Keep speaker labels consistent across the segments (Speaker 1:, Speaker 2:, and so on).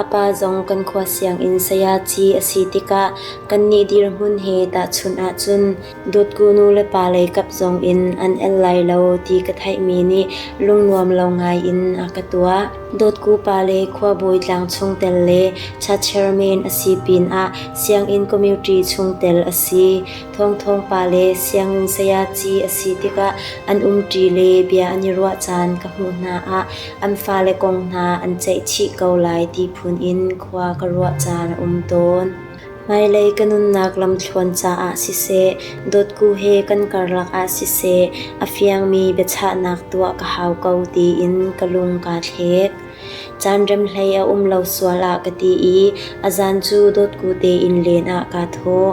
Speaker 1: A pa zong kan khua sianginn sayaci a si tikah kannih dirhmun he tahchunh ahcun dawtkunu le pa lei kap zongin an el lai lo ti ka theihmi nih lungnuam lo ngaiin a ka tuah. Dawtku pa le khuabawi tlang chungtel le Churchairman a si pinah sianginn community chungtel a si. Thawngthawng pa le sianginn sayaci a si tikah an umṭi le bia an i ruah caan ka hmuh hna ah An fale kong hna an ceihchih ko lai ti phun in khua ka ruah caan a um tawn. Hmailei ka nunnak lamthluan caah siseh, dotku he kan karlak ah siseh, a fiangmi biachahnak tuah ka hau ko tiin ka lung kaa thlek. Caan remhlei a um lo sual ah ka ti i a zan cu dotku tein len ah kaa thawh.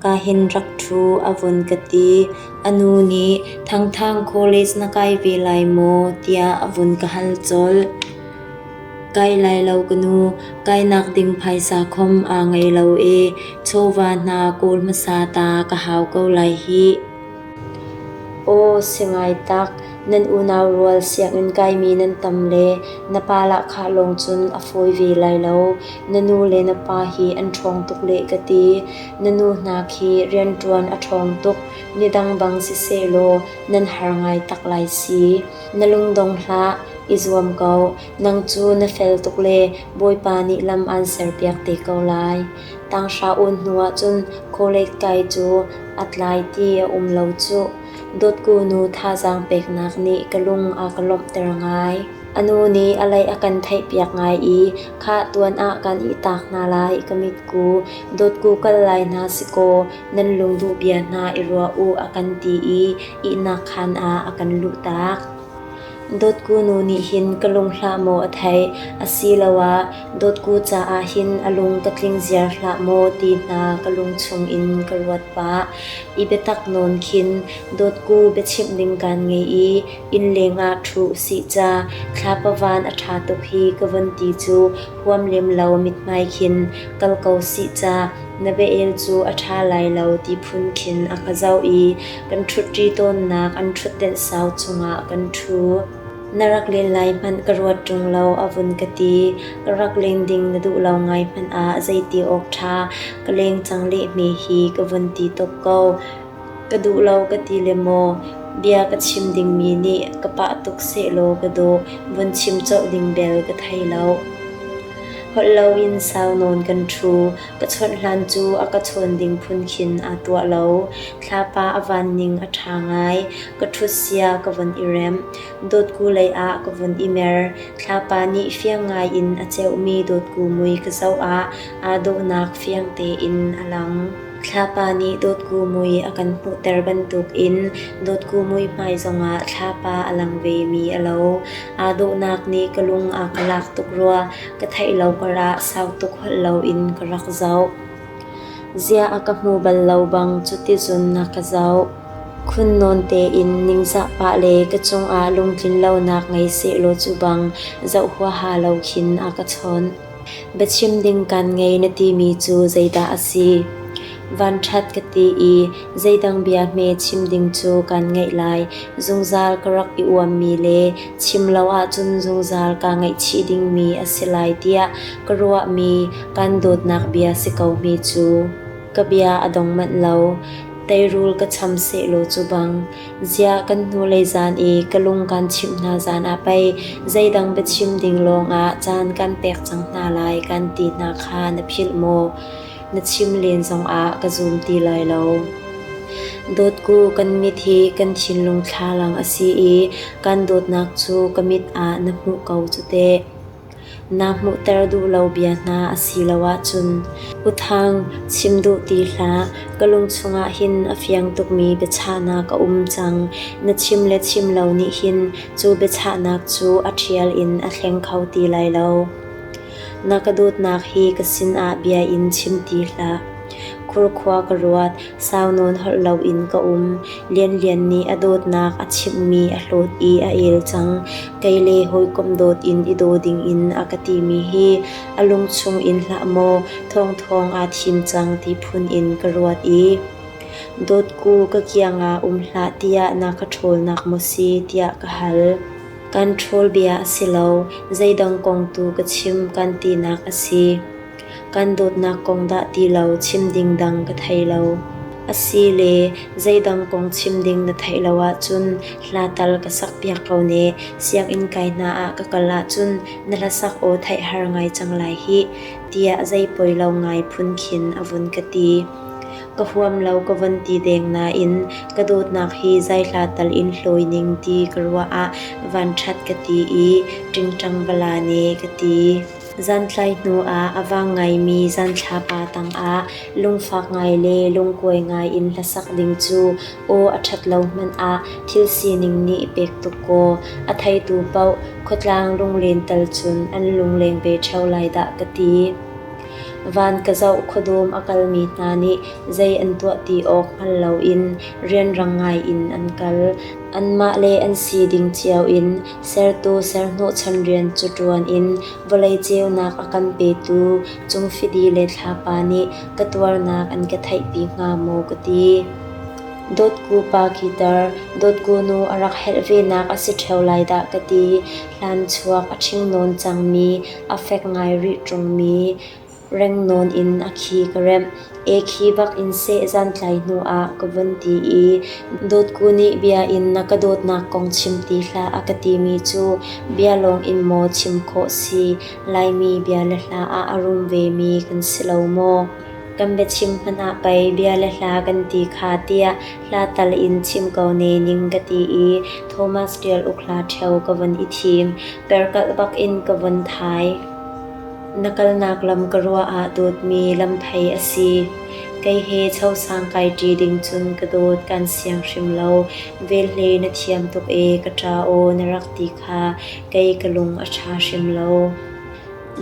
Speaker 1: Ka hin rak ṭhu a vun ka ti. A nu nih Thangthang College na kai ve lai maw tiah a vun ka hal colh. Kai lai lo ka nu, kainak ding phaisa khom aa ngei lo i chawva hna kawl hmasa ta ka hau ko lai hih. Aw singai tak, nan unau rual sianginn kaimi nan tam le na pa lahkhah lawng cun a fawi ve lai lo. Na nu le na pa hi an ṭhawng tuk le ka ti. Na nu hna khi rianṭuan a ṭhawng tuk. Nidang bang sisehlaw nan har ngai tak lai si. Na lungdong hlah, i zuam ko. Nang cu na fel tuk le Bawipa nih lam aan serpiak te ko lai. Tanghra awn hnu ahcun kawlek kai cu a tlai ti a um lo cuh. Dawtkunu thazaang peknak nih ka lung a ka lawmhter ngai. A nu nih a lei a kan theihpiak ngai i khah tuan ah kan ih taak hna lai ka mitku. Dawtku kal lai hna sikaw nan lungduh bia hna i ruah u a kan ti i ihnak khaan ah a kan luh taak. Dawtkunu nih hin ka lung hlah maw a theih asiloah dawtku caah hin a lung ka tling ziar hlah maw ti hna ka lung chungin ka ruat pah. I biatak nawn khin dawtku biachimh ding kaan ngei i innleng ah ṭhu usih ca thlapa van a ṭha tuk hi ka vun ti cu huam lem lo mithmai khin kal ko sih ca na bia el cu a ṭha lai lo ti phun khin a ka zoh i Kan ṭhuṭṭi tawnnak an ṭhutdenh sau cungah kan ṭhu. Na rak len lai hmanh ka ruat ṭung lo a vun ka ti. Ka rak len ding na duh lo ngai hmanh ah zeiti awk ṭha ka leng cang lehmi hi ka vun ti tuk ko. Ka duh lo ka ti le maw? Bia ka chim dingmi nih ka pah tuk sehlaw ka daw. Vun chim colh ding bel ka thei lo. Holh loin sau nawn kan ṭhu. Ka chawnh hlan cu a ka chawn ding phun khin aa tuah lo. Thlapa a van ning a ṭha ngai. Ka ṭhutsia ka vun i remh. Dotku lei ah ka vun i mer. Thlapa nih fiang ngaiin a ceuhmi dotku mui ka zoh ah aa dawhnak fiang tein a lang. Thlapa nih dotku mui a kan hmuhter bantukin dotku mui hmai zongah thlapa a lang vemi a lo. Aa dawhnak nih ka lung a ka lak tuk rua. Ka theih lo karah sau tuk holh loin ka rak zoh. Zia a ka hmu bal lo bang cuticun na ka zoh. Khunnawn tein ningzah pah le ka cungah lungtlin lonak ngei sehlaw cu bang zoh huaha lo khin a ka chawn. Biachim ding kan ngei na timi cu zeidah a si? Vanṭhat ka ti i zeidang bia hme chim ding cu kan ngeih lai. Zungzal ka rak i uammi le chim lo ahcun zungzal kaa ngaihchih dingmi a si lai tiah ka ruahmi kan dawtnak bia si ko mi cu ka bia a dong manh lo. Teirul ka cham sehlaw cu bang ziah kan hnulei zan i ka lung kan chimh hna zan ah pei zeidang biachim ding lawngah caan kan pek cang hna lai kan ti hna kha na philh maw? Na chim len zongah ka zum ti lai lo. Dawtku kan mit hi kan thinlung thlalang a si i kan dawtnak cu ka mit ah na hmuh ko cu teh. Na hmuhter duh lo bia hna asiloah cun “Uthang, chim duh ti hlah, ka lungchung ah hin a fiang tukmi biachahnak a um cang. Na chim le chim lo nih hin cu biachahnak cu a ṭhial in a thleng kho ti lai lo. Na ka dawtnak hi ka sinah bia in chim ti hlah. Khurkhua ka ruat, Sau nawn holh loin ka um. Lianlian nih a dawtnak a chimhmi a hlawt i a el cang. Kei le hawikom dawt in i daw dingin a ka timi hi a lung chungin hlah maw thawngthawng aa thim cang ti phun in ka ruat i dawtku ka kiangah um hlah tiah na ka ṭhawlnak maw si tiah ka hal. Kan ṭhawl bia a si lo, zeidang kong tu ka chim kan tinak a si. Kan dawtnak kong dah ti lo chim ding dang ka thei lo. Asile zeidang kong chim ding na theih lo ahcun hla tal ka sakpiak ko ne. Sianginn kai hna ah ka kal ahcun na hla sak aw theih har ngai cang lai hih, tiah zei poi lo ngai phun khin a vun ka ti. Ka huam lo ka von ti deng nain ka dawtnak hi zei hla tal in hlawi ning ti ka ruah ah vanṭhat ka ti i ṭingṭang vala ne ka ti. Zanthlai hnu ah a vang ngaimi zantthla pa tangah lungfak ngai le lungkuai ngai in hlasak ding cu aw a ṭhat lo hmanh ah thil sining nih pek tuk kaw, a theitu paoh khuatlang lunglen tal cun an lungleng ve ṭheo lai dah ka ti. Van ka zoh khuadawm a kalmi hna nih zei an tuah ti awk hngal loin rianrang ngai in an kal. Anmah le an si ding cio in Sertu serhnawhchan rian caṭuan in vawlei ceunak a kan petu cungfidi le thlapa nih ka tuarnak an ka theihpi hnga maw ka ti. Dawtku pa Peter, dawtku nu a rak helh venak a si ṭheo lai dah ka ti. Hlan chuak a ṭhingnawn cangmi, a fek ngai rih ṭungmi, Rengnawn in a khi ka remh. E khi bak in seh zantlai hnu ah ka vun ti i dawtku nih bia in na ka dawtnak kong chim ti hlah a ka timi cu bia lawng in maw chim khawh si, Laimi bia le hla ah a rum vemi kan si lo maw? Kan biachim hmanh ah pei bia le hla kan ti kha tiah hla tal in chim ko ne ning ka ti i Thomas Tial Uk hla ṭheo ka vun i thim. Perkalh bak in ka vun thai. Na kalnak lam ka ruah ah dawtmi lam thei a si. Kei he chosang kai ṭi ding cun ka dawt kan siang hrim lo. Vel hle na thiam tuk e ka ṭa aw na rak ti kha kei ka lung a ṭha hrim lo.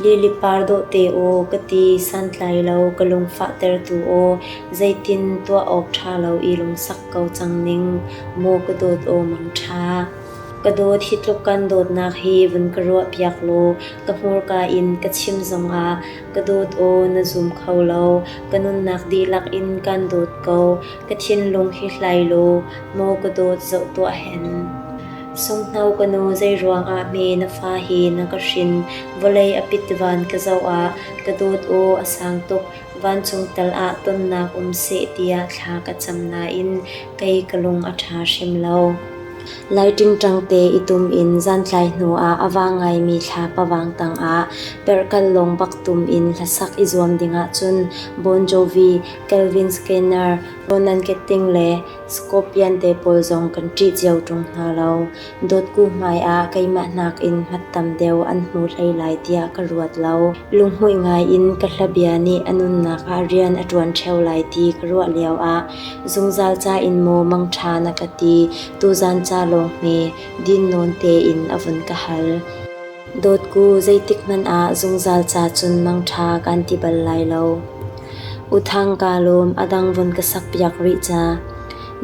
Speaker 1: Lilipar dawh te aw ka ti santlai lo ka lungfahtertu aw zeitin tuah awk ṭha lo i lungsak ko cang ning maw ka dawt aw mang ṭha. Ka dawt hi tluk kan dawtnak hi vun ka ruahpiak law ka hmurka in ka chim zongah ka dawt aw na zum kho lo. Ka nunnak dihlak in kan dawt ko. Ka thinlung hi hlai law maw ka dawt zoh tuah hen. Sunghno ka nu zeiruangah hme na fa hi na ka hrin. Vawlei a pit van ka zoh ah ka dawt aw a sang tuk. Vancung tal ah tonnak um seh tiah thla ka cam nain kei ka lung a ṭha hrim lo. Lai ṭingṭang te i tum in zantlai hnuah a vang ngaimi thla pavang tangah perhkal lawng bak tum in hla sak i zuam dingah cun Bon Jovi, Calvin Skinner, Ronan Keating le Scorpion te pawl zong kan ṭih cio ṭung hna lo. Dotku hmaiah keimah nakin hmat tam deuh an hmu hlei lai tiah ka ruat lo. Lunghmuih ngai in ka hlabia nih a nunnak ah rian a ṭuan ṭheo lai ti ka ruah lioah Zungzal ca in maw mangṭha na ka ti, tuzan ca lawng hme din nawn tein a vun ka hal. Dawtku, zeitikhmanh ah zungzal ca cun mangṭha kan ti bal lai lo. U Thang kaa lawm a dang vun ka sakpiak rih ca.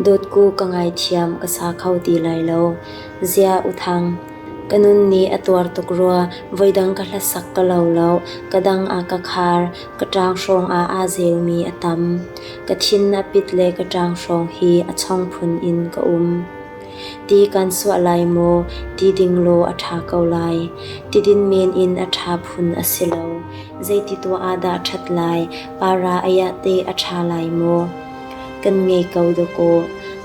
Speaker 1: Dawtku ka ngaithiam ka sa kho ti lai lo. Zia U Thang, ka nun nih a tuar tuk rua, voidang ka hlasak ka lo lo, ka dang a ka khar, Ka ṭang hrawng ah aa zelmi a tam. Ka thin a pit le ka ṭang hrawng hi a chong phun in ka um. Ti kan suah lai maw? Ti ding law a ṭha ko lai. Tidin men in a ṭha phun a si lo. Zeiti tuah ah dah ṭhat lai? Para ayah te a ṭha lai maw? Kan ngei ko dawkaw.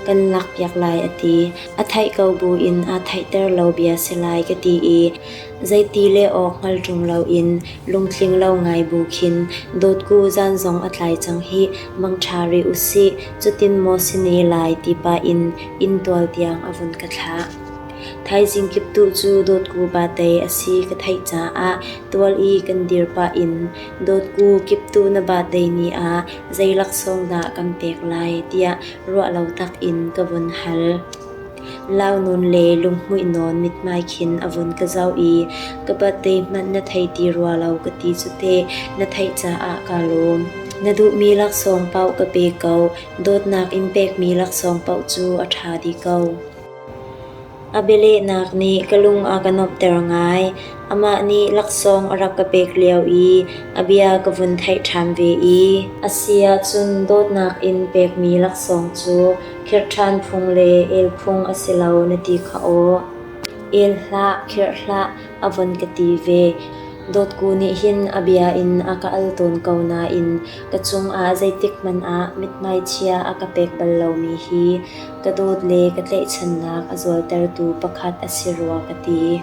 Speaker 1: Kan lak piak lai a ti. A theih ko bu in aa theihter lo bia si lai ka ti i Zeiti leh awk hngal ṭung loin lungtling lo ngai bu khin dawtku zan zong a tlai cang hih, mang ṭha rih u sih, cutin maw si ne lai ti pah in inntual tiang a vun ka thlah. Thaizing kip tu cu dawtku patei a si ka theih caah tual i kan dir pah in dawtku kip tu na patei ni ah zei laksawng dah kan pek lai tiah ruah lo tak in ka vun hal. Launawn le lunghmuih nawn mithmai khin a vun ka zoh i ka pate hmanh na thei ti rua lo ka ti cu teh na theih caah kaa lawm. Na duhmi laksawng paoh ka pe ko. Dawtnak in pekmi laksawng paoh cu a ṭha dih ko. A bialehnak nih ka lung a ka nuamhter ngai. Amah nih laksawng a rak ka pek lio i a bia ka vun theih ṭhan ve i a si ahcun dawtnak in pekmi laksawng cu Khirhṭhan phung le el phung a si lo na ti kha aw. El hlah, khirh hlah, a von ka ti ve. Dawtku nih hin a bia in a ka al tawn ko nain ka cungah zeitikhmanh ah mithmai chia a ka pek bal lomi hi ka dawt le ka tlaihchannak a zualtertu pakhat a si rua ka ti.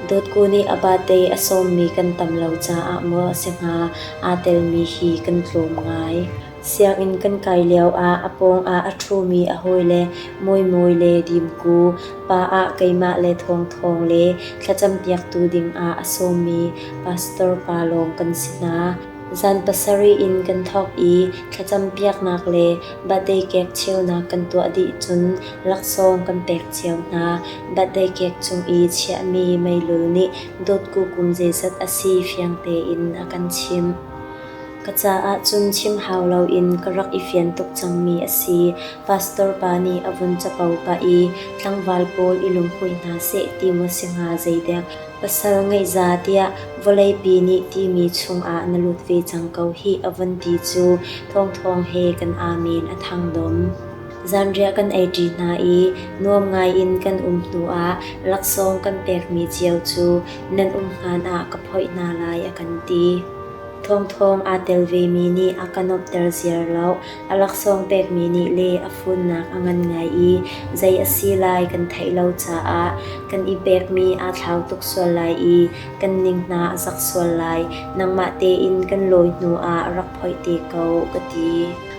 Speaker 1: Dawtku nih a bate a sawmmi kan tam lo caah maw a si hnga aa telmi hi kan tlawm ngai. Sianginn kan kai lioah a pawngah a ṭhumi a hawile Mawimawi le Dimku, pa ah keimah le Thawngthawng le thlacampiaktu dingah a sawmmi pastor pa lawng kan si hna. Zan pasarih in kan thawk i thlacampiaknak le birthday cake cheunak kan tuah dih cun laksawng kan pek cio hna. Birthday cake cung i chiahmi meilul nih dawtku kum zeizat a si fiang tein a kan chimh. Ka caah cun chim hau loin ka rak i fian tuk cangmi a si. Pastor pa nih a vun capo pah i tlangval pawl i lungpui hna seh ti mu si hnga zeidek. Pasal ngeih za tiah vawleipi nih timi chungah na lut ve cang ko hih a vun ti cu thawngthawng he kan amen a thang dom. Zanriah kan ei ṭi hna i nuam ngaiin kan um hnuah laksawng kan pekmi cio cu nan um hlan ah ka phoih hna lai a kan ti. Thawngthawng aa tel vemi nih a ka nuamhter ziar lo. A laksawng pekmi nih le a funnak a ngan ngai i zei a si lai kan theih lo caah kan i pekmi aa thlau tuk sual lai i kan ning hna a zak sual lai. Nangmah tein kan lawi hnu ah rak phoih te ko ka ti.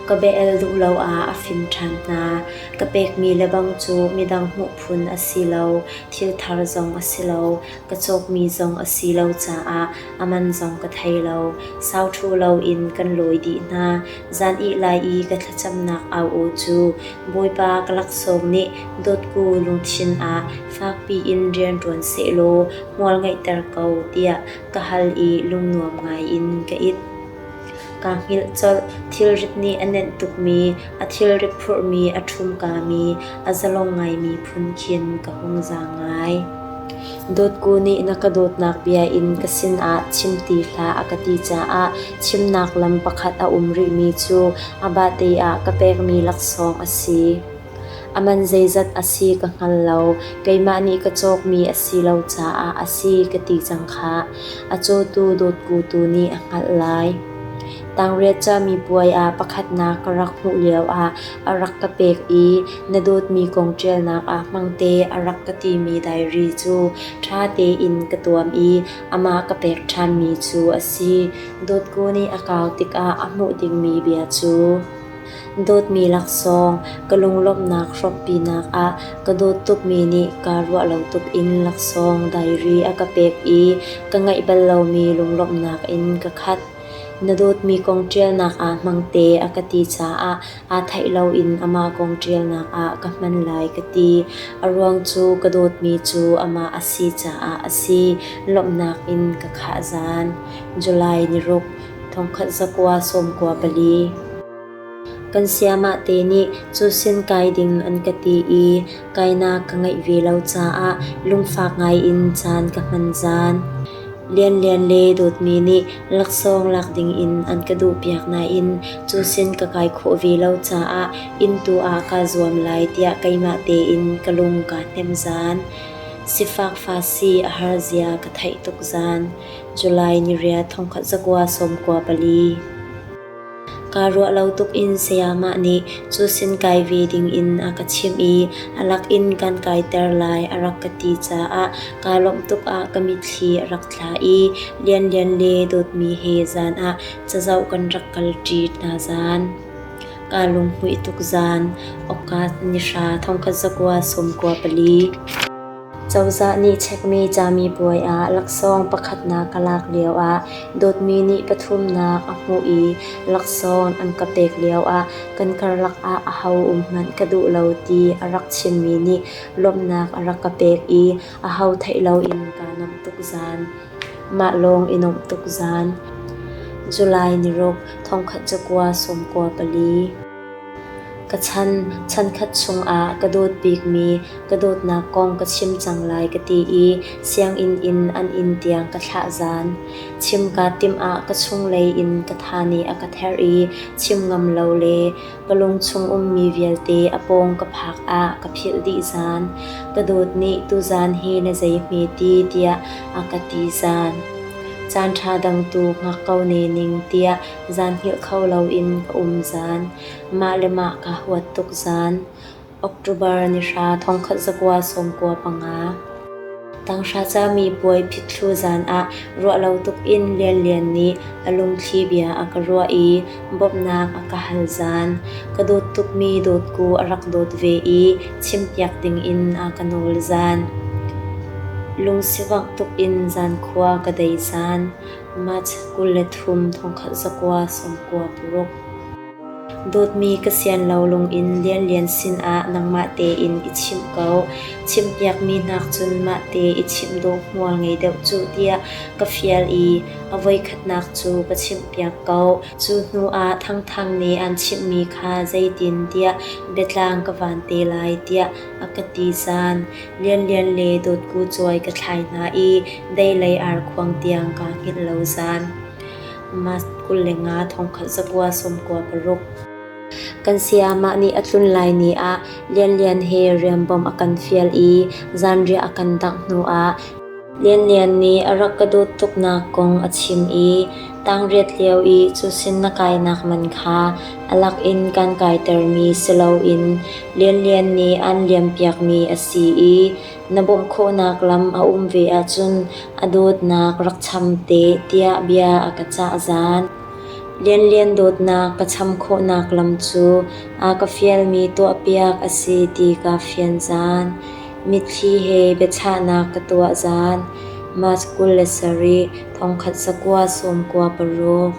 Speaker 1: Ka bel duh lo ah a fim ṭhan hna. Ka pekmi lebang cu midang hmuh phun a si lo, thil thar zong a si lo. ka cawkmi zong a si lo caah a man zong ka thei lo. Sau ṭhu loin kan lawi dih hna. Zan ih lai i ka thlacamnak au-aw cu Bawipa ka laksawng nih dawtku lungthin ah fakpi in rian ṭuan sehlaw hmual ngeihter ko tiah ka hal i lungnuam ngaiin ka it. Kaa hngilh colh. Thilrit nih a nenh tukmi, a thilrit phurhmi, a ṭhumkami, a zalong ngaimi phun khin ka hung zaang ngai. Dawtku nih na ka dawtnak bia in ka sinah chim ti hlah a ka ti caah chimnak lam pakhat a um rihmi cu a bahte ah ka pekmi laksawng a si. A man zeizat a si ka hngal lo, keimah nih ka cawkmi a si lo caah a si ka ti cang khah. A cawtu dawtkutu nih a hngalh lai. Tangriat cami puai ah pakhatnak ka rak hmuh lioah a rak ka pek i na dawtmi kong ṭialnak ah hmangte a rak ka timi diary cu ṭha tein ka tuam i amah ka pek ṭhanmi cu a si. Dawtku nih a kau tikah a hmuh dingmi bia cu. Dawtmi laksawng ka lunglawmhnak hrawmpinak ah ka dawt tukmi nih kaa ruah lo tuk in laksawng dairi a ka pek i ka ngeih bal lomi lunglawmhnak in ka khat. Na dawtmi kong ṭialnak ah hmangte a ka ti caah aa theih loin amah kong ṭialnak ah ka hman lai ka ti. A ruang cu ka dawtmi cu amah a si caah a si lawmhnak in ka khahzan. July niruk thongkhat zakua sawmkua pali. Kan siamah te nih cu sin kai ding an ka ti i kainak ka ngeih ve lo caah lungfak ngaiin caan ka hman zan. Lianlian le dawtmi nih laksawng lak dingin an ka duhpiak nain cu sin ka kai khawh ve lo caah inn tu ah kaa zuam lai tiah keimah tein ka lung kaa hnem zan. Sifak fa si a har zia ka theih tuk zan. July niriah thongkhat zakua sawmkua pali. Kaa ruah lo tuk in sayamah nih cu sin kai ve ding in a ka chimh i a lak in kan kaiter lai a rak ka ti caah kaa lawmh tuk ah ka mitthli a rak thla i lianlian le dawtmi he zan ah cazoh kan rak kal ṭi hna zan. Kaa lunghmuih tuk zan. Awkat nihra thongkhat zakua sawmkua pali. Cozah nih chekmi cami puai ah laksawng pakhatnak ka lak lioah dawtmi nih pathumnak a hmuh i laksawng an ka pek lioah kan karlak ah aho um hmanh ka duh lo ti a rak chimmi nih lawmhnak a rak ka pek i aho theih loin kaa nuamh tuk zan. Mah lawng i nuamh tuk zan. July niruk thongkhat cakua sawmkua pali. Ka chan chankhat chungah ka dawt bikmi ka dawtnak kong ka chim cang lai ka ti i sianginn in an inn tiang ka thlah zan. Chim kaa timh ah ka chunglei in ka tha nih a ka therh i chim ngam lo le ka lungchung ummi vialte a pawng ka phak ah ka philh dih zan. Ka dawt nih tuzan hi na zei hme ti tiah a ka ti zan. Caanṭha dang tu ngak ko ne ning tiah Zan hngilh kho loin ka um zan. Mah le mah kaa huat tuk zan. October ni hra thongkhat zakua sawmkua panga. Tanghra cami puai phitthlu zan ah ruah lo tuk in lianlian nih a lungthli bia a ka ruah i bawmhnak a ka hal zan. Ka dawt tukmi dawtku a rak dawt ve i chimpiak dingin a ka nawl zan. Lungsivangh tuk in zankhua ka dei zan. March kul le thum thongkhat zakua sawmkua paruk. Dawtmi ka sian lo lung in lianlian sin ah nangmah tein i chimh ko. Chimpiak mi hnak cun mah te i chimh dawh hmual ngei deuh cu tiah ka fial i a voikhatnak cu ka chimpiak ko. Cu hnu ah Thangthang nih an chimh mi kha zeitin tiah biatlang ka van te lai tiah A ka ti zan, lianlian le dawtku cuai ka thlai hna i dei lei arkhuang tiang kaa hngilh lo zan. Mas kul le nga thongkhat zabua somkua ka ruk. Kan siamah nih a tlun lai ni ah lianlian he riambom a kan fial i zanriah a kan dangh hnu ah Lianlian nih a rak ka dawt tuknak kong a chim i tangriat lio i cusin na kainak man kha a lakin kan kaitermi si loin Lianlian nih aan liampiakmi a si i na bawmh khawhnak lam a um ve ahcun a dawtnak rak cham te tiah bia a ka cah zan. Lianlian dawtnak ka cham khawhnak lam cu aa ka fialmi tuahpiak a si ti ka fian zan. Mitthli he biachahnak ka tuah zan, March kul le sarih, thongkhat sakua sawmkua paruk.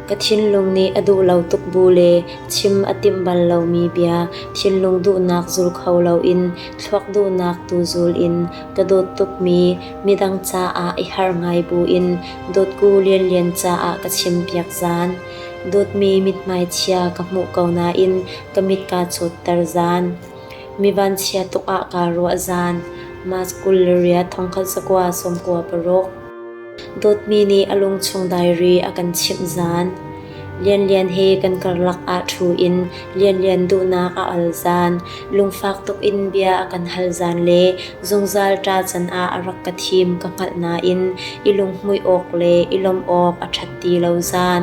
Speaker 1: Ka thinlung nih a duh lo tuk bu le chim a timh bal lomi bia thinlung duhnak zul kho loin thluak duhnak tu zul in ka dawt tukmi midang caah i harh ngai buin dawtku lianlian caah ka chimpiak zan. Dawtmi mithmaichia ka hmuh ko nain ka mit kaa cawtter zan. Mi vanchia tuk ah kaa ruah zan. Mah kul le ria thongkhat sakua sawmkua paruk. Dawtmi nih a lungchung diary a kan chimh zan. Lianlian he kan karlak ah ṭhu in lianlian duhnak a al zan. Lungfak tuk in bia a kan hal zan le zungzal ṭa can ah a rak ka thim ka hngalh nain i lunghmui awk le i lawm awk a ṭhat ti lo zan.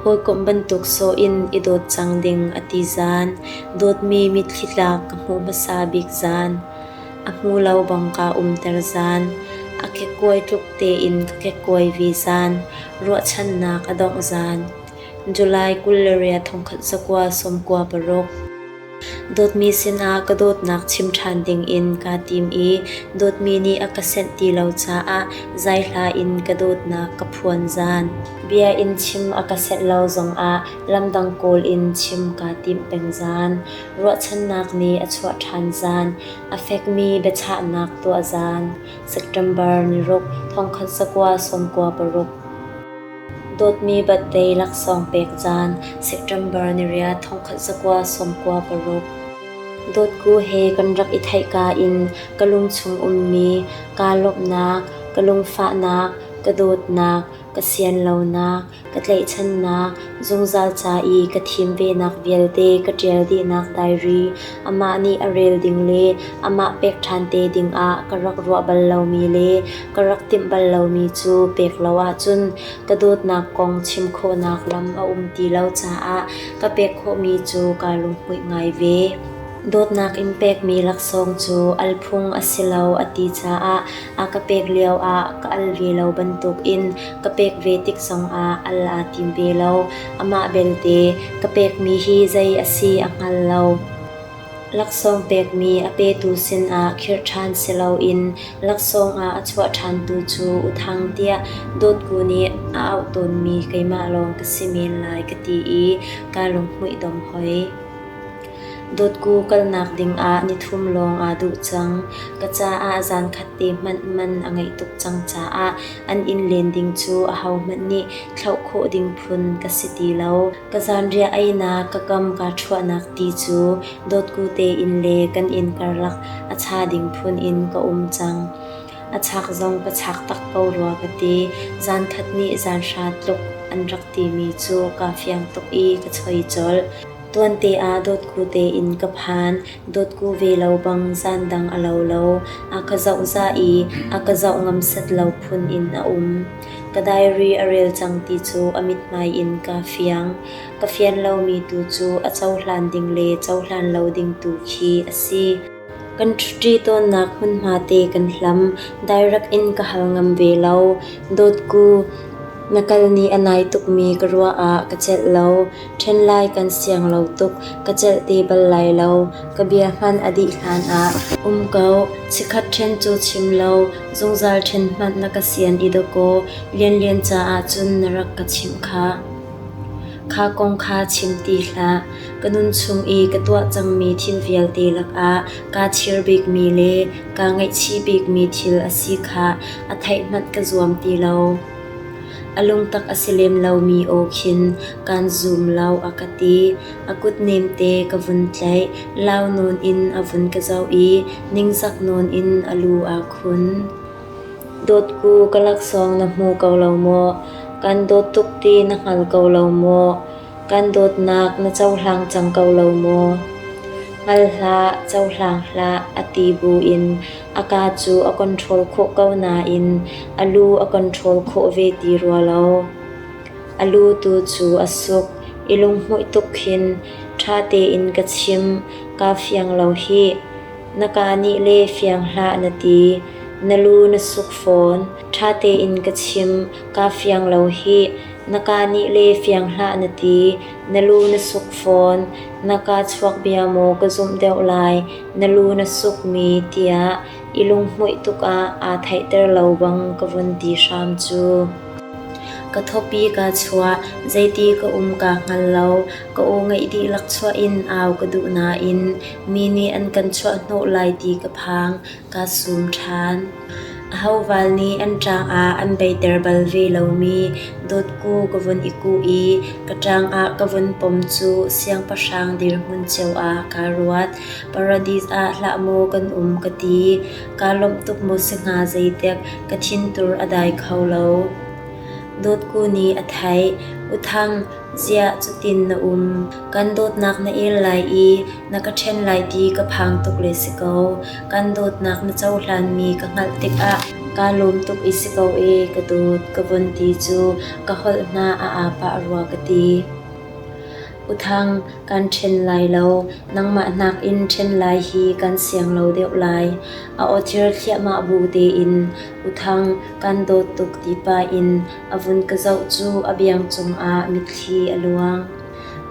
Speaker 1: Hawikomh bantuk sawh in i dawt cang ding a ti zan. Dawtmi mitthli tla ka hmu hmasa bik zan. A hmu lo bang kaa umter zan. A kekkuai tluk tein ka kekkuai ve zan. Ruahchannak a dongh zan. July kul le ria thongkhat zakua sawmkua paruk. Dawtmi sinah ka dawtnak chim ṭhan dingin kaa tim i dawtmi nih a ka senh ti lo caah zaihla in ka dawtnak ka phuan zan. Bia in chim a ka senh lo zongah Ramdang kawl in chim kaa timh peng zan. Ruahchannak nih a chuah ṭhan zan. A fekmi biachahnak tuah zan. September niruk, thongkhat sakua sawmkua paruk. Dawtmi birthday laksawng pek zan. September niria, thongkhat sakua sawmkua paruk. Dawtku he kan rak i theihka in ka lungchung ummi kaa lawmhnak, ka lungfahnak, ka dawtnak, ka sianlonak, Ka tlaihchannak, zungzal ca i ka thim venak vialte ka ṭial dihnak dairi amah nih a rel ding le amah pek ṭhan te dingah ka rak ruah bal lomi le ka rak timh bal lomi cu pek lo ahcun ka dawtnak kong chim khawhnak lam a um ti lo caah ka pek khawhmi cu kaa lunghmuih ngai ve. Dawtnak in pekmi laksawng cu alphung a si lo a ti caah A ka pek lioah ka al ve lo bantukin ka pek ve tik zongah al aa tim ve lo. Amah belte ka pekmi hi zei a si a hngal lo. Laksawng pekmi a petu sinah khirh ṭhan si loin laksawng ah a chuah ṭhantu cu uthang tiah dawtku nih a auh tawnmi keimah lawng ka si men lai ka ti i kaa lunghmuih dom hoi. Dawtku kalnak dingah nithum lawng aa duh cang. Ka caah zaankhat te hmanh man a ngeih tuk cang caah an inn len ding cu ahohmanh nih thlauh khawh ding phun ka si ti lo. Ka zanriah einak, ka kam kaa chuahnak ti cu dawtku tein le kan inn karlak a ṭha ding phun in ka um cang. A chak zong ka chak tak ko rua ka ti. Zaankhat nih zaan hra tluk an rak timi cu kaa fiang tuk i ka choi colh. Tuante ah dawtku tein ka phan. Dawtku ve lo bang zan dang a lo lo. A ka zohzah i a ka zoh ngam set lo phun in a um. Ka diary a rel cang ti cu a mithmai in kaa fiang. Ka fian lomi tu cu a cohlan ding le cohlan lo ding tu khi a si. Kan ṭhuṭi tawnnak hmunhma te kan hlam, direct in ka hal ngam ve lo. Dawtku, na kal nih a nai tukmi ka ruah ah ka celh lo. Ṭhen lai kan siang lo tuk, ka celh te bal lai lo. Ka bia hman a dih hlan ah, um ko, chikkhat ṭhen cu chim lo, zungzal ṭhen hmanh na ka sian i dawkaw, lianlian caah cun na rak ka chimh khah. Kha kong kha chim ti hlah. Ka nunchung i ka tuah cangmi thil vialte lakah kaa thir bikmi le kaa ngaihchih bikmi thil a si kha a theihhngat ka zuam ti lo. A lungtak a si lem lomi aw khin kaan zum lo a ka ti. A kut nemte ka vun tlaih, lau nawn in a vun ka zoh i ningzak nawn in a lu aa khun. Dawtku ka laksawng na hmu ko lo maw? Kan dawt tuk ti na hngal ko lo maw? Kan dawtnak na cohlang cang ko lo maw? Hngal hlah, cohlang hlah a ti bu in a ka cu a control khawh ko nain a lu a control khawh ve ti rua lo. A lu tu cu a suk i lunghmuih tuk hin ṭha tein ka chim, kaa fiang lo hih. Na ka nih le fiang hlah na ti. Na lu na suk fawn. Ṭha tein ka chim, kaa fiang lo hih. Na kaa nih le fiang hlah na ti, na lu na suk fawn, na kaa chuak bia maw ka zumh deuh lai, na lu na suk mi tiah i lunghmuih tuk ah aa theihter lo bang ka vun ti hram cu. Ka thawpi kaa chuah, zeiti ka um kaa hngal lo, ka aw ngeih dihlak chuah in au ka duh nain mi nih an kan chuah hnawh lai ti ka phang. kaa sum ṭhan. Aho val nih an ṭang ah an beiter bal ve lomi dawtku ka vun i kuh i ka ṭang ah ka vun pom cu siangpahrang dirhmun cio ah kaa ruat. Paradis ah hlah maw kan um ka ti. Kaa lawmh tuk maw si hnga zeitik ka thintur a dai kho lo. Dawtku nih a theih, "Uthang, Ziah cutin na um? Kan dawtnak na el lai i na ka ṭhen lai ti ka phang tuk le si ko. Kan dawtnak na cohlanmi ka hngalh tikah kaa lawm tuk i si ko ee ka dawt ka von ti cu ka holh hna a apa rua ka ti. Uthang kan ṭhen lai lo, nangmah nakin ṭhen lai hi kan siang lo deuh lai. A aw thir thliahmah bu tein uthang kan dawt tuk ti pa in A vun ka zoh cu a biang cungah mitthli a luang.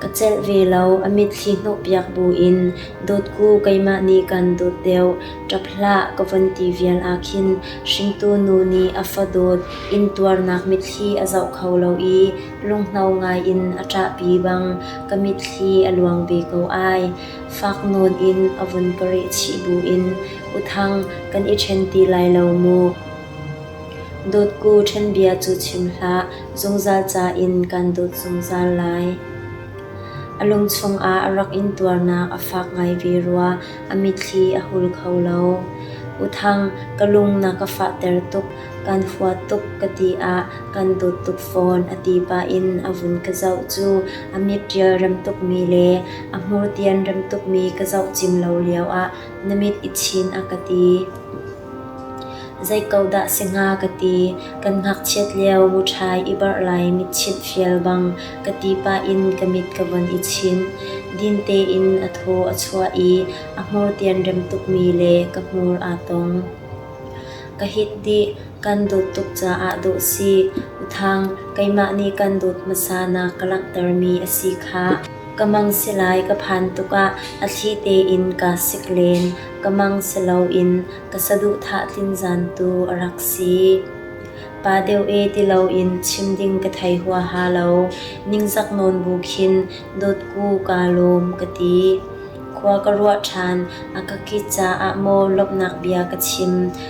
Speaker 1: Ka celh ve lo, a mitthli hnawhpiak buin dawtku keimah nih kan dawt deuh. Ṭap hlah ka vun ti vial ah khin hringtu nu nih a fadawt intuarnak mitthli a zoh kho lo i lunghno ngaiin a ṭahpi bang ka mitthli a luang ve ko ai. Fak nawn in a vun ka reh chih buin, U Thang, kan i ṭhen ti lai lo mu. Dawtku ṭhenbia cu chim hlah, zungzal ca in kan dawt zungzal lai. A lung chungah rak intuarnak a fak ngai ve rua, a mitthli a hul kho lo. U Thang, ka lung na ka fahter tuk, kan huat tuk ka ti ah kan dawt tuk fawn a ti pah in a vun ka zoh cu a mit ṭial rem tukmi le a hmurtian rem tukmi ka zoh cim lo lioah na mit i chin a ka ti. Zei ko dah si hnga ka ti. Kan ngakchiat lio muṭhai i barh lai mitchit fial bang ka ti pah in ka mit ka von i chinh. Din tein a thaw a chuah i a hmur tianrem tukmi le ka hmur aa tong. Ka hit dih, kan dawt tuk caah dawh si. Uthang, keimah nih kan dawt hmasa na ka langhtermi a si khah. Ka mang si lai ka phan tukah a thli tein kaa sik len. ka mang si loin ka saduhthah tlinzan tu a rak si. Pa deuh ee ti loin chim ding ka thei huaha lo. Ningzak nawn bu khin dawtku kaa lawm ka ti. Khua ka ruah ṭhan a ka ki caah maw lawmhnak bia ka chim.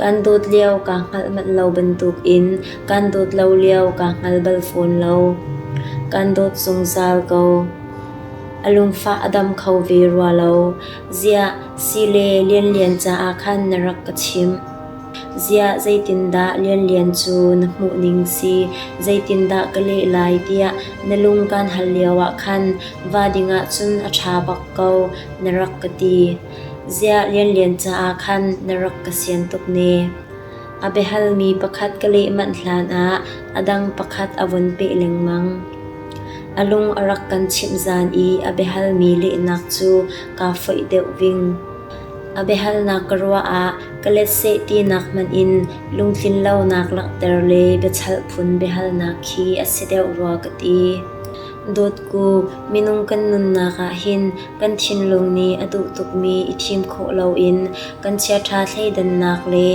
Speaker 1: Kan dawt lio kaa hngalh manh lo bantukin kan dawt lo lio kaa hngal bal fawn lo. Kan dawt zungzal ko. A lungfah a dam kho ve rua lo. Ziah si le lianlian caah khan na rak ka chimh. Ziah zeitindah lianlian cu na hmuh ning si, zeitindah ka leh lai tiah na lung kaan hal lioah khan va dingah cun a ṭha bak ko na rak ka ti. Ziah lianlian caah khan na rak ka sian tuk ne? A biahalmi pakhat ka leh manh hlanah a dang pakhat a vun peh lengmang. A lung a rak kan chimh zan i a biahalmi lehnak cu kaa foih deuh ving. A biahalnak ka ruah ah ka let seh tinak hmanh in lungtlinlonak langhter le biachalh phun biahalnak khi a si deuh rua ka ti. Dawtku, minung kan nunnak ah hin kan thinlung nih a duh tukmi i thim khawh loin kan chiaṭha thleidannak le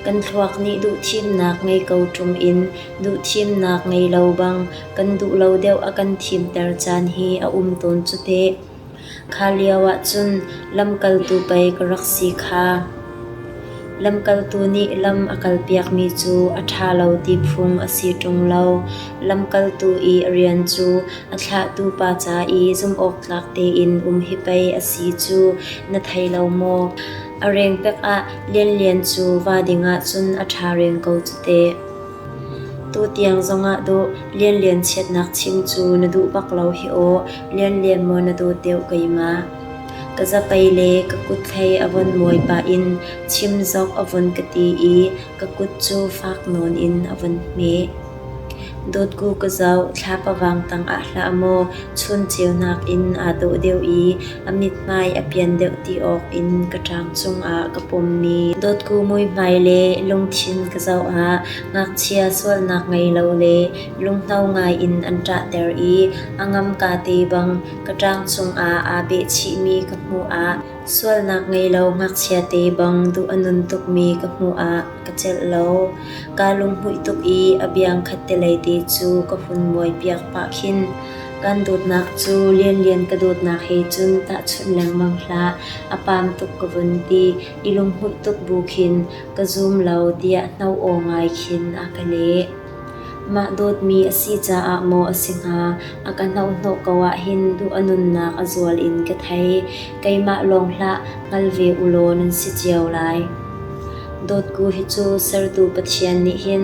Speaker 1: kan thluak nih duhthimnak ngei ko ṭum in duhthimnak ngei lo bang kan duh lo deuh a kan thimter caan hi a um tawn cu teh! Kha lio ahcun lamkaltu pei ka rak si kha. Lamkaltu nih lam a kalpiakmi cu a ṭha lo ti phung a si ṭung lo. Lamkaltu i rian cu a thlahtu pa ca i zumhawktlak tein um hi pei a si cu na thei lo maw? A reng pek ah lianlian cu va ding ahcun a ṭha reng ko cu teh. Tutiang zongah duh Lianlian chiatnak chim cu na duh bak lo hi aw, Lianlian maw na dawt deuh keimah. Ka zapei le ka kut hlei a von mawi pah in chim zok a vun ka ti i ka kut cu fak nawn in a von hmeh. Dawtku ka zoh, thlapa vang tangah hlah maw chun ceunak in aa dawh deuh i A mithmai a pian deuh ti awk in ka ṭaang cungah ka pummi dawtku muihmai le lungthin ka zoh ah ngakchia sualnak ngei lo le lunghno ngai in an ṭahter i a ngam ka te bang ka ṭaang cungah aa behchihmi ka hmuh ah sualnak ngei lo ngakchia te bang duh a nun tukmi ka hmuh ah ka celh lo. Kaa lunghmuih tuk i a biang khattelei te cu ka hun muai piak pah khin. Kan dawtnak cu lianlian ka dawtnak he cun tahchunh lengmang hlah, a pam tuk ka vun ti i lunghmuih tuk bu khin ka zum lo tiah hno aw ngai khin a ka leh. Mah dawtmi a si caah maw a si hnga, a ka hnohnawh ko ahhin duh a nunnak a zual in ka thei. Keimah lawng hlah hngal ve u law nan si cio lai. Dawtku hi cu Sertu Pathian nih hin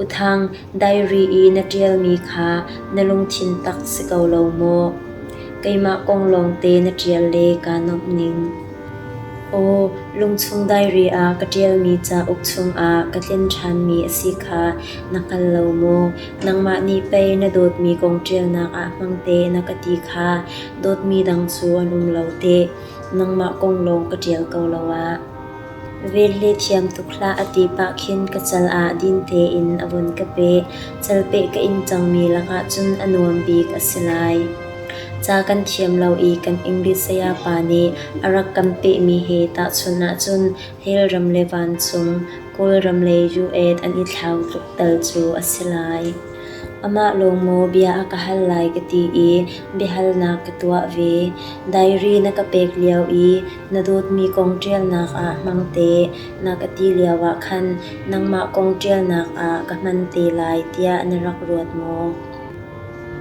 Speaker 1: Uthang dairy i na ṭialmi kha na lungthin tak si ko lo maw? Keimah kong lawngte na ṭial le kaa nuamh ning. Aw, lungchung dairy ah ka ṭialmi cauk chungah ka tlin ṭhanmi a si kha na hngal lo maw? Nangmah nih pei na dawtmi kong ṭialnak ah hmang te na ka ti kha dawtmi dang cu an um lo teh. Nangmah kong lawng ka ṭial ko lo ah. Vel hi thiam tuk hlah a ti pah khin ka cal ah din tein a vun ka peh. Cal peh ka in cangmi lakah cun a nuam bik a si lai. Ca kan thiam lo i kan English sayapa nih a rak kan pehmi he tahchunh ahcun Hellram le vancung, Kawlram le US an i thlau tuk tal cu a si lai. Amah lawng maw bia a ka hal lai ka ti i biahalnak ka tuah ve. Diary na ka pek lio i Na dawtmi kong ṭialnak ah hmang te, na ka ti lioah khan nangmah kong ṭialnak ah ka hman te lai tiah na rak ruat maw?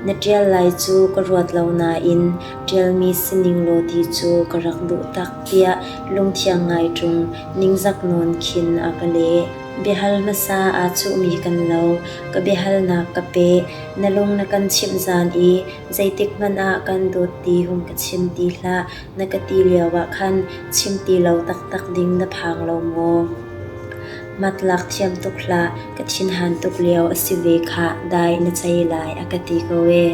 Speaker 1: Na ṭial lai cu ka ruat lo nain ṭialmi sining law ti cu ka rak duh tak tiah lungthiang ngai ṭung ningzak nawn khin a ka leh. Biahal hmasa aa cuhmi kan lo. Ka biahalnak ka peh. Na lung na kan chimh zan i zeitikhmanh ah kan dawt ti hung ka chim ti hlah. Na ka ti lioah khan chim ti lo taktak ding na phang lo maw? Matlak thiam tuk hlah, ka thinhan tuk lio a si ve khah, dai na cei lai a ka ti ko ee.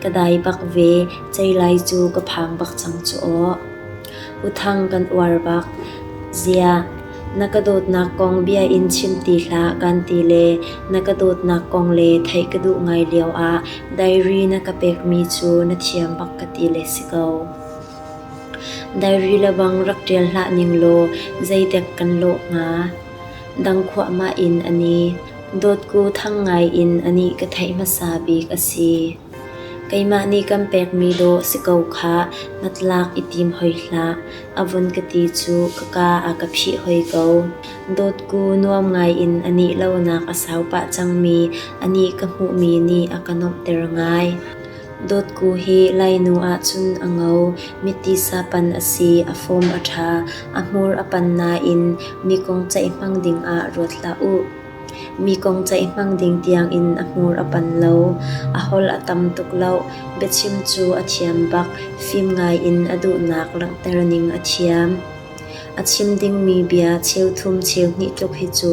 Speaker 1: Ka dai bak ve, cei lai cu ka phang bak cang cu aw. Uthang kan uar bak, zia Na ka dawtnak kong bia in chim ti hlah kan ti le na ka dawtnak kong le theih ka duh ngai lioah diary na ka pekmi cu na thiam bak ka ti le si ko. Diary le bang rak ṭial hlah ning law zeitek kan lawh hnga. Dang khuahmah in ani, dawtku thang ngai in ani ka theih hmasa bik a si. Keimah nih kan pekmi dawh si ko khah, hnatlak i tim hoi hlah, a vun ka ti cu ka kaa a ka phih hoi ko. Dawtku nuam ngaiin a nih lonak a sau pah cangmi, a nih ka hmuhmi nih a ka nuamhter ngai. Dawtku hi Lainu ahcun a ngo, mittisa pan a si, a fawm a ṭha, a hmur a pan nain mi kong ceih hmang dingah ruat hlah u. Mi kong ceihmang ding tiangin a hmur a pan lo, a hol a tam tuk lo, biachim cu a thiam bak, fim ngaiin a duhnak langhter ning a thiam. A chim dingmi bia cheu thum cheu hnih tluk hi cu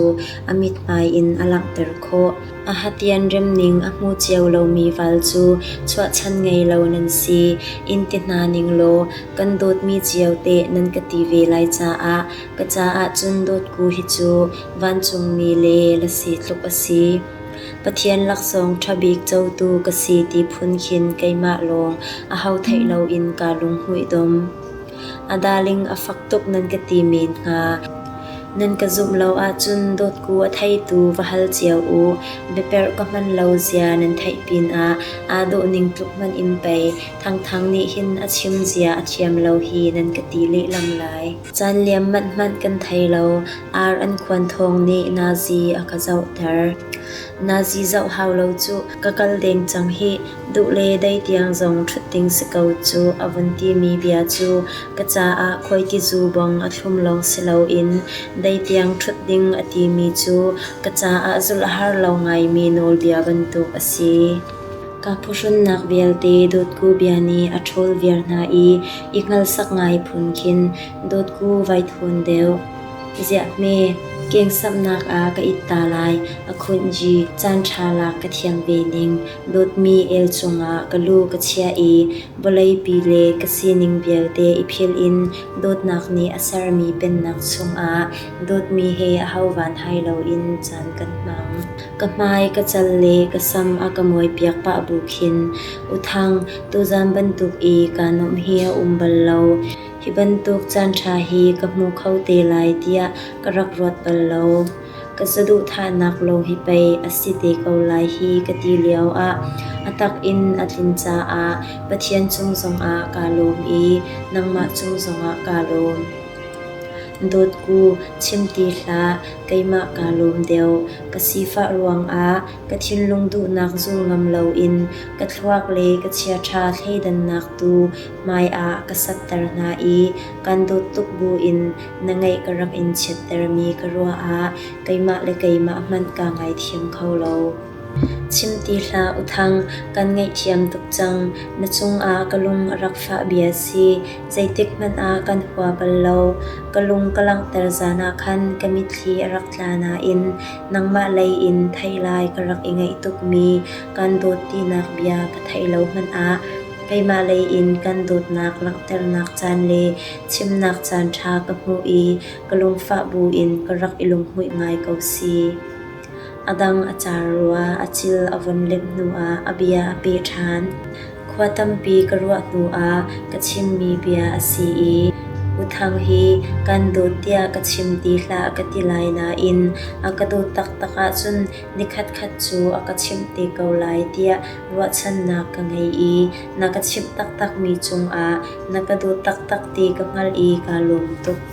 Speaker 1: a mithmai in a langhter khawh. A hatian remning a hmu cio lomi val cu chuahchan ngei lo nan si, in ti hna ning law kan dawtmi cio teh nan ka ti ve lai caah Ka caah cun dawtku hi cu vancungmi le lasi tluk a si. Pathian laksawng ṭha bik cotu ka si ti phun khin keimah lawng a ho theih loin kaa lunghmuih dom. A darling a fak tuk nan ka ti men hnga. Nan ka zumh lo ahcun dawtku a theitu va hal cio u. Biaperh ka hman lo zia nan theih pinah aa dawh ning tluk hmanh in pei Thangthang nih hin a chim zia a thiam lo hi nan ka ti lehlam lai. Caan liammanh hmanh kan thei lo. Ar an khuan thawng nih Nazi a ka zohter. Nazi zoh hau lo cuh. Ka kal deng cang hih. Duh le dei tiang zong ṭhut ding si ko cuh a vun timi bia cu ka caah khuaitizu bong a thlum lawng si loin dei tiang ṭhut ding a timi cu ka caah zulh a har lo ngaimi nawlbia bantuk a si. Ka phuhrunnak vialte dawtku bia nih a ṭhawl viar hna i i hngalsak ngai phun khin dawtku vai thawn deuh. Ziah hme, kengsamnak ah ka it ta lai, a khunji caan ṭha lak ka thiam ve ning, dawtmi el cungah ka lu ka chiah i vawleipi le ka sining vialte i philh in dawtnak nih a sermi pennak chungah dawtmi he ahovan hai loin caan kan hmang. Ka hmai, ka cal le ka sam a ka mawipiak pah bu khin Uthang, tuzan bantuk i kaa nuamh hi a um bal lo. Hi bantuk caan ṭha hi ka hmu kho te lai tiah ka rak ruat bal lo. Ka saduhthahnak lo hi pei a si te ko lai hi ka ti lio ah a tak in a tlin caah Pathian cung zongah kaa lawm i nangmah cung zongah kaa lawm. Dawtku chim ti hlah, keimah kaa lawm deuh. Ka sifah ruangah ka thinlung duhnak zul ngam loin ka thluak le ka chiaṭha thleidannak tu hmaiah ka satter hna i kan dawt tuk buin na ngaih ka rak in chiattermi ka ruahah keimah le keimah hmanh kaa ngaithiam kho lo. Chim ti hlah uthang, kan ngaihthiam tuk cang. Na cungah ka lung a rak fah bia si, zeitik hmanh ah kan hua bal lo. Ka lung ka langhter zan ah khan ka mitthli a rak tla nain nangmah lei in theih lai ka rak i ngaih tukmi kan dawttinak bia ka theih lo hmanh ah keimah lei in kan dawtnak langhternak caan le chimnak caanṭha ka hmuh i ka lungfah buin ka rak i lunghmuih ngai ko si. A dang a car rua a cil a von lemh hnuah a bia a peh ṭhan. Khua tampi ka ruah hnuah ka chimmi bia a si i U Thang hi kan dawt tiah ka chim ti hlah ka ti lai nain a ka dawt taktak ahcun nikhatkhat cu a ka chimh te ko lai tiah ruahchannak ka ngei i na ka chimh taktakmi cungah na ka dawt taktak ti ka hngalh i kaa lawm tuk.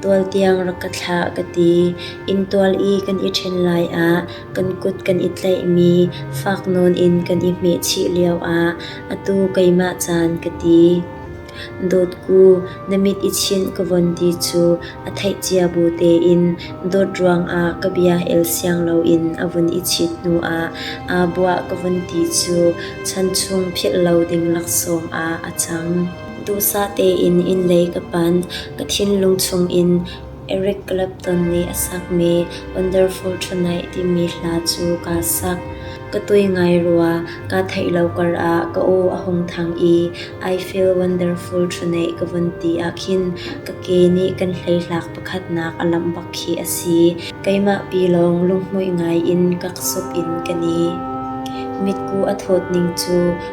Speaker 1: Tual tiang rak ka thlah ka ti. Inn tual i kan i ṭhen lai ah kan kut kan i tlaihmi fak nawn in kan i hmehchih lioah atu keimah caan ka ti. Dawtku, na mit i chinh ka von ti cu a theih cia bu tein dawt ruangah ka bia el siang loin a vun i chit hnuah aa buah ka vun ti cu chan chung philh lo ding laksawng ah a cang. Duhsah tein innlei ka panh. Ka thinlung chungin Eric Clapton nih a sakmi Wonderful Tonight timi hla cu kaa sak. Ka tui ngai rua. Kaa theih lo karah ka aw a hung thang i I feel wonderful tonight ka vun ti ahkhin ka ke nih kan hleihlak pakhatnak a lamh bak khi a si. Keimah pi lawng lunghmuih ngaiin kaksuk in ka ni. Mitku a thawt ning cu